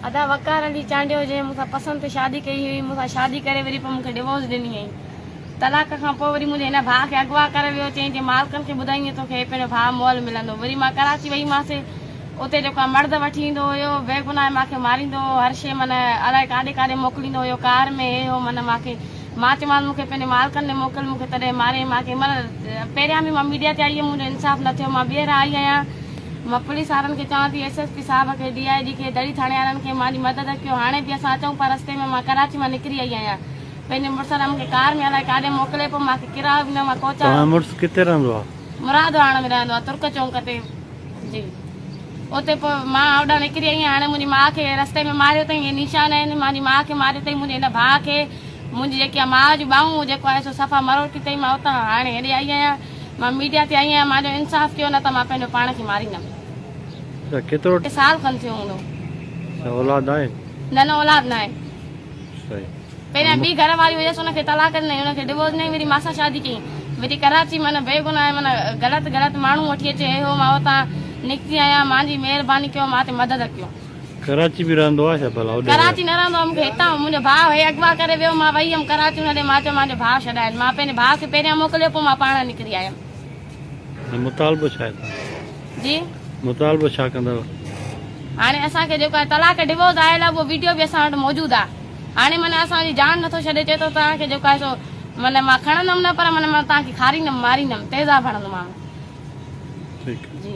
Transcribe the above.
ادا وقار علي چانڊيو جنهن مون سان پسند تي شادي ڪئي هئي مون سان شادي ڪري وري پوء مون کي ڊوورس ڏني هئائين طلاق کان پوء وري منهنجي هن ڀاء کي اغوا ڪري ويو چيائين جي مالڪن کي ٻڌائيندين توکي هي پنهنجو ڀاء مئل ملندو وري مان ڪراچي وئي ماسي اتي جيڪو مرد وٺي ايندو هيو بيگناهه مان کي ماريندو هو هر شي من الاء ڪاڏي ڪاڏي موڪليندو هيو ڪار ۾ هي هو من مان کي مان چيومانس مون کي پنهنجي مالڪن ڏي موڪل مون کي تڏهن ماريائين مان کي مر پهريان به مان ميڊيا تي آئي هيم منهنجو انصاف نه ٿيو مان ٻيهر آئي آهيان مان پوليس وارن کي چوان ٿي ايس ايس پي صاحب کي ڊي آئي جي کي دڙي ٿاڻي وارن کي مانجي مدد ڪيو هاڻي به اسان اچون پيا رستي ۾ مان ڪراچي مان نڪري آئي آهيان پنهنجي مڙس سان مون کي ڪار ۾ الائي ڪاڏي موڪلي پيو مان کي ڪرايو به نه مان ڪوچا تنهنجو مڙس ڪٿي رهندو آهي؟ مرادواڻ ۾ رهندو آهي ترڪ چونڪ تي. جي اتي پوء مان هوڏانهن نڪري آئي هاڻي منهنجي ماء کي رستي ۾ ماريو اٿئي هي نشان آهن مانجي ماء کي ماريو اٿئي منهنجي هن ڀاء کي منهنجي جيڪي آهي ماء جون ٻانهون جيڪو آهي سو صفا مروٽي اٿئي مان اتان هاڻي هيڏي آئي آهيان مان ميڊيا تي آئي آهيان مانجو انصاف ڪيو نه ته مان پنهنجو پاڻ کي ماريندم اچھا ڪيترو سال کن ٿيو هوندو اولاد آهن نه نه اولاد ناهي صحيح پهريان ٻي گهر واري هيس ان کي طلاق ڏنائين ان کي ڊوورس ڏنائين وري مانسان شادي ڪيائين وري ڪراچي مان بي گناهه مان غلط غلط ماڻهو وٺي اچي اهي هو مان اتان نڪتي آهيان مان جي مهرباني ڪيو مان تي مدد ڪيو. ڪراچي به رهندو آهي ڇا ڀلا اوڏي ڪراچي نه رهندو آهي مون کي هتان منهنجو ڀاء هي اغوا ڪري ويو مان وئي هيم ڪراچي ان ڏي مان چيو مان جو ڀاء ڇڏاين مان پنهنجي ڀاء کي پهريان موڪليو پوء مان پاڻ نڪري آيم. مطالبو ڇا ڪندؤ؟ جي؟ مطالبو ڇا ڪندؤ؟ هاڻي اسان کي جيڪو طلاق ڊووز آيل آهي اهو ويڊيو به اسان وٽ موجود آهي هاڻي من اسان جي جان نٿو ڇڏي چئي ٿو توهان کي جيڪو آهي سو من مان کڻندم نه پر من مان توهان کي کاريندم ماريندم تيزاب هڻندومانو ٺيڪ جي